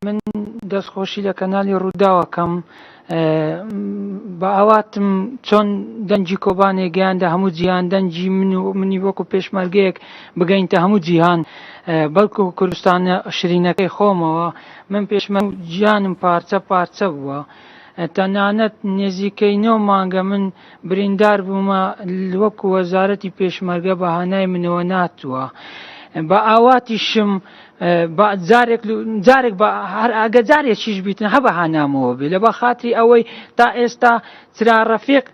من دەست خۆشی لە کەنالی ڕوداو ئەکەم بە ئاواتم چۆن دەنگی کۆبانێ گەیاندە هەموو جیهان دەنگی من و منی وەکو پێشمەرگەیەک بگەینتە هەموو جیهان بەڵکو کوردستانە شرینەکەی خۆمەوە من پێشمە جیانم پارچە پارچە بووە تەنانەت نێزیکەی نۆ مانگە من بریندار بوومە وەکو وەزارەتی پێشمەرگە بە هانای منەوە ناتووە بە ئاواتی شم جارێک هەر ئەگە جارێک شیش بیتن هە بە هانامەوە بێ لە بە خاتری ئەوەی تا ئێستا چرا ڕەفێق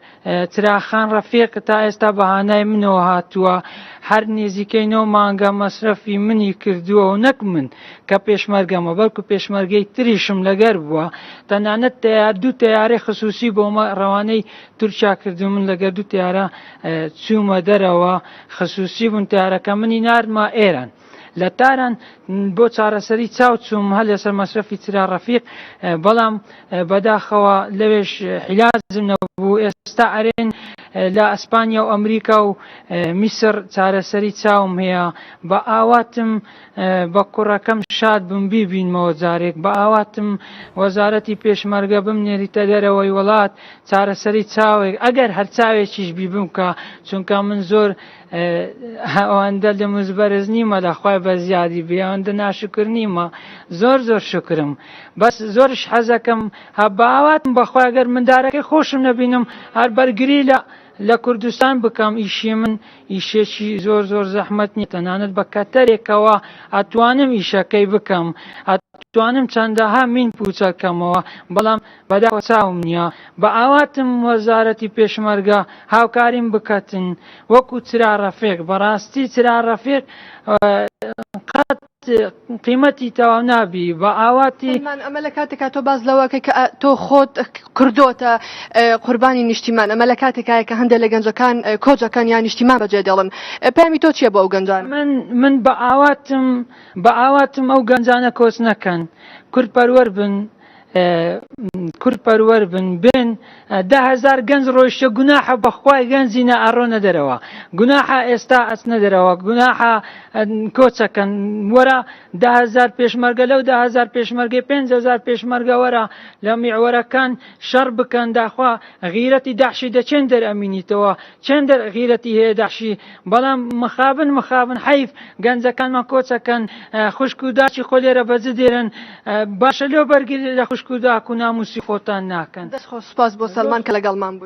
چراخان ڕەفێق تا ئێستا بە هانای منەوە هاتووە هەر نێزیکەی نۆ مانگە مەسرەفی منی کردووە و نەک من کە پێشمەرگەم و بەڵکو پێشمەرگەی تریشم لەگەر بووە، تەنانەت تەیار دوو تەیارەی خسووسی بۆ مە ڕەوانەی تورکیا کردوون، من لەگەر دوو تەیارە چوومە دەرەوە، خسووسی بوون تەیارەکە، منی ناردمە ئێران. لە تاران بۆ چارەسەری چاو چووم، هەر لەسەر مەسرەفی چرا ڕەفیق، بەڵام بەداخەوە لەوێش حیلازم نەبوو، ئێستا ئەرێن لە ئەسپانیا و ئەمریکا و میسر چارەسەری چاوم هەیە، بە ئاواتم بە کوڕەکەم شاد بم بیبینمەوە جارێک بە ئاواتم وەزارەتی پێشمەرگە بم نێریتە دەرەوەی وڵات چارەسەری چاوێک ئەگەر هەر چاوێکیش بی بمکە چونکە من زۆر ئەوەندە لە مزبەرز نیمە لەخوای بە زیادی بێوەندە ناشکر نیمە زۆر زۆر شکرم بەس زۆرش حەزەکەم هە بە ئاواتم بەخوای گەر مندارەکەی خۆشم نەبینم هەر بەرگری لە لە کوردستان بکەم ئیشی من ئیشێکی زۆر زۆر زەحمەت نیە تەنانەت بە کەتەرێکەوە ئەتوانم ئیشەکەی بکەم ئەتوانم چەندەها مین پوچەل کەمەوە بەڵام بەداخەوە چاوم نیە بە ئاواتم وەزارەتی پێشمەرگە هاوکاریم بکەتن وەکو چرا رەفیق بەڕاستی چرا رەفیق قەت قیمەتی تەواو نابی بە ئاواتی. سەلمان ئەمە لە کاتێکا تۆ باس لەوە ئەکەی کە تۆ خۆت کردۆتە قوربانی نیشتیمان ئەمە لە کاتێکایە کە هەندێک لە گەنجەکان کۆچ ئەکەن یان نیشتیمان بەجێ دێڵن پەیامی تۆ چییە بۆ ئەو گەنجانە؟ من من بە ئاواتم بە ئاواتم ئەو گەنجانە کۆچ نەکەن کورد پەروەر بن. کورد پەروەر بن بن ده هزار گەنج ڕۆیشتە گوناحە بەخوای گەنجی نە ئەڕۆنە دەرەوە گوناحە ئێستا ئەچنە دەرەوە گوناحە کۆچەکەن وەرە ده هزار پێشمەرگە لەو ده هزار پێشمەرگەی پێنج هزار پێشمەرگە وەرە لە میعوەرەکان شەڕ بکەن داخوا غیرەتی داحشی دەچێن دەرئەمینیتەوە چەندە غیرەتی هەیە دەحشی. بەڵام مخابن مخابن حەیف گەنجەکانمان کۆچ ئەکەن خوشک و داکی خۆ لێرە بە جد دێرن باشە لۆ بەرگری لە خوشک و داک و ناموسی خۆتان ناکەن. دەست خۆش سوپاس بۆ سەلمان کە لەگەڵمان بووی.